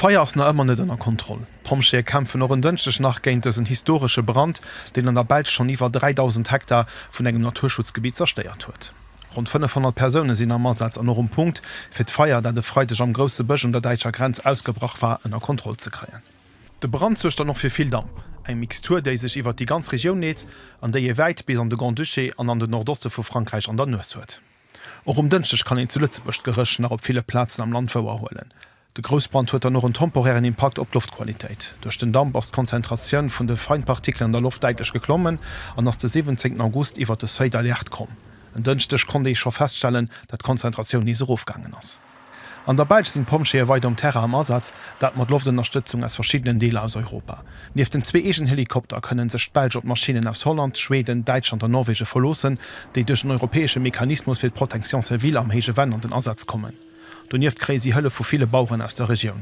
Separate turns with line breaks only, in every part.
D'Feier ass nach ëmmer net ënner Kontroll. D'Pompjeeë kämpfen och en Dënschdeg nach géint dësen historesche Brand, deen an der Belsch schonn iwwer 3.000 Hektar vun engem Naturschutzgebitt zerstéiert huet. Ronn 500 Persoune sinn am Asaz an och um Punkt, fir d'Feier, dat e Freideg am Grousse Bësch un der däitscher Grenz ausgebrach war, ënner Kontroll ze kréien. De Brand suergt dann och fir vill Damp, eng Mixtur, déi sech iwwert déi ganz Regioun leet an déi ee wäit bis an de Grand-Duché an an den Nordoste vu Frankräich an der Nues huet. Och um Dënschdeg kann een zu Lëtzebuerg d'Geréch nach op ville Plazen am Land wouer huelen. De Groussbrand huet dann och en temporären Impakt op d'Loftqualitéit. Duerch den Damp ass d'Konzentratioun vun de Feinpartikelen an der Loft däitlech geklommen an ass de 17 August iwwert de Seuil d'alerte komm. En Dënschdeg konnt ee scho feststellen, dat d'Konzentratioun nees erofgaangen ass. An der Belsch sinn d'Pompjeeë weider um Terrain am Asaz, dat mat Loftënnerstëtzung aus verschiddenen Deeler aus Europa. Nieft den zwee eegenen Helikopter kënnen sech d'Belsch op d'Maschinnen aus Holland, Schweden, Däitschland an Norwegen verloossen, déi duerch den europäesche Mechanismus fir d'Protection civile am héije Venn an den Asaz kommen. Donieft kréie si Hëllef vu ville Baueren aus der Regioun.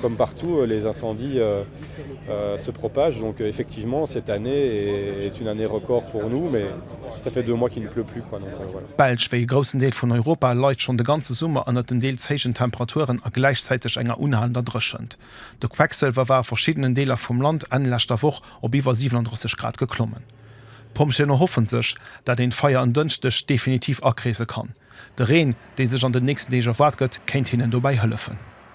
Comme partout, les incendies se propagent donc effectivement cette année est une année record pour nous mais ça fait deux mois qu'il ne pleut plus quoi donc voilà. D'Belsch, wéi e groussen Deel
vun Europa, leit schonn de ganze Summer ënnert den deels héijen Temperaturen a gläichzäiteg enger unhalender Dréchent. De Quecksëlwer war a verschiddenen Deeler vum Land Enn leschter Woch op iwwer 37 Grad geklommen. D'Pompjeeën erhoffen sech, dat een d'Feier en Dënschdeg definitiv akreese kann. De Reen, dee sech an den nächsten Deeg erwaart gëtt, kéint hinnen dobäi hëllefen.